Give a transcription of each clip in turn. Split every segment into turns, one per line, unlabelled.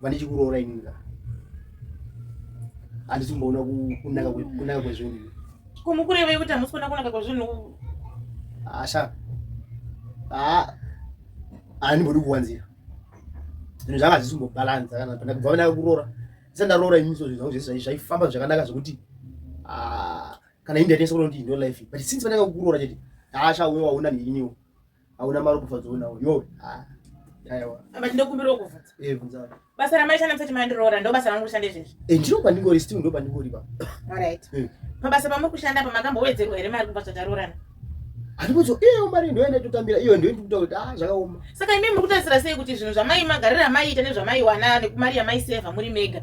vandichikuroora inini ka handisi kumboona kunaka kwezvinhu kumukurevei kuti
hamusi
kuona kunaka kwezvinhu asha handimbodi kuwanzira zvinhu zvanga hazvisi kumbobalanza kana panda kubva vanaka kuroora ndisa ndaroora inini so zvinhu zvangu zvese zvaifamba zvakanaka zvekuti kana indaitesa kuona kuti ndo life but since vanaka kuroora chete asha uyo waona neiniwo hauna mari kufa dzonawo yowe ah, but ndokumbirawo
kuvhudza eh, basa
ramaita namusati
mandiroora ndo basa rangu kushanda izvezvi eh, ndiro pandingori still ndo
pandingori pa alright eh.
pabasa pamuri kushanda pamakambowedzerwa here mari kubva zvataroorana handikuzo
iyo mari ndoenda totambira iyo ndo ndikuta kuti ah zvakaoma saka imi muri kutarisira
sei kuti zvinhu zvamai magarira maiita nezvamaiwana nekumari yamaiseva muri mega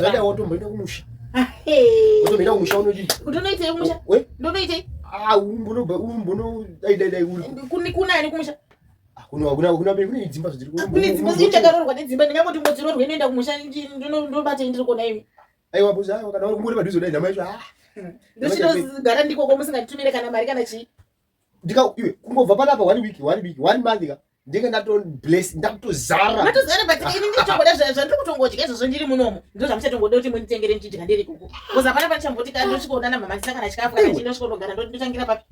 zvadaiwotomboita kumusha otomboita kumusha unodii kuti unoitei kumusha ndonoitei kunani kumusha kunedzimbakunedzimbakunedzimbakunedzimba dzimba ndingangoti ngodzirorwe inoenda kumusha ndobatei ndiri kona imi aiwa buza kana uri kumuri padhuze kudai ndamaicho ndochitogara ndikoko musinganditumire kana mari kana chii ndika iwe kungobva panapa one week one week one month ka ndinge ndatobless ndakutozara matozara but ini
nditongoda zvandiri kutongodya izvozvo ndiri munomo ndo zvamuchatongoda kuti munditengere ndichidya ndiri kuku bcause hapana pachambooti ka ndosvikoona na mama ndisakana chikafu kana chii ndosvikonogara ndotangira papi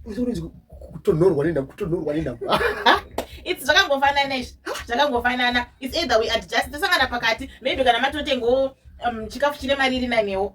kutonhorwa
nendam kutonhorwa nendam
its zvakangofanana izvi zvakangofanana its either we adjust tisangana pakati maybe kana matotengawo um, chikafu chine mari iri nanewo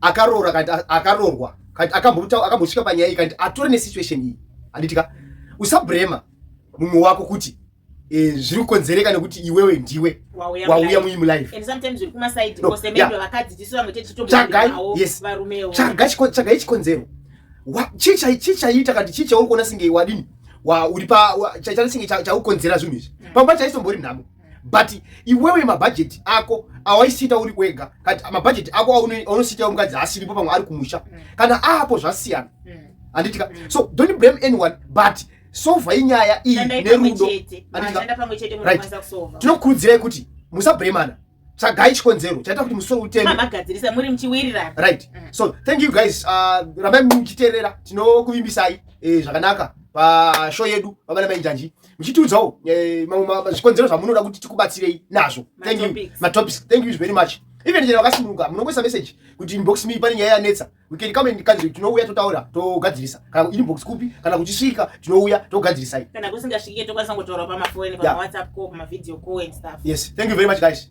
akaroora kanti akarorwa kanti akambotaura akambosvika panyaya iyi kanti atore nesituation iyi handiti ka usabrema mumwe wako kuti e, zviri kukonzereka nekuti iwewe ndiwe wauya muimu
lifetsvagai
chikonzero chii chaiita kanti chii chauri kuona singe wadini uri pa chaita singe chaukonzera zvinhu izvi mm. pamba chaisombori nhamo but iwewe mabhajeti ako awaisiita uri wega kati mabhajeti ako aunosiita mukadzi asiripo pamwe ari kumusha mm. kana aapo zvasiyana mm. handitika mm. so don't blame anyone but sova inyaya iyi nerudo tinokurudzirai kuti musabhuremana tsvagai chikonzero chaita kuti musoro utemeamagadzirisamurimuchiwiriranright
so
thank you guys uh, rambai muchiteerera tinokuvimbisai eh, zvakanaka pashow yedu vabana mainjanji muchitiudzawo eh, mamwe zvikonzero zvamunoda kuti tikubatsirei nazvo thank you matopics thank you very much even chero vakasununguka munongoisa message kuti inbox me pane nyaya yanetsa we can come and country tinouya totaura togadzirisa kana inbox kupi kana kuchisvika tinouya togadzirisai kana
kusingasvike tokwanisa kungotaura pamafoni pamawhatsapp
call pamavideo
call and stuff yes thank you very
much
guys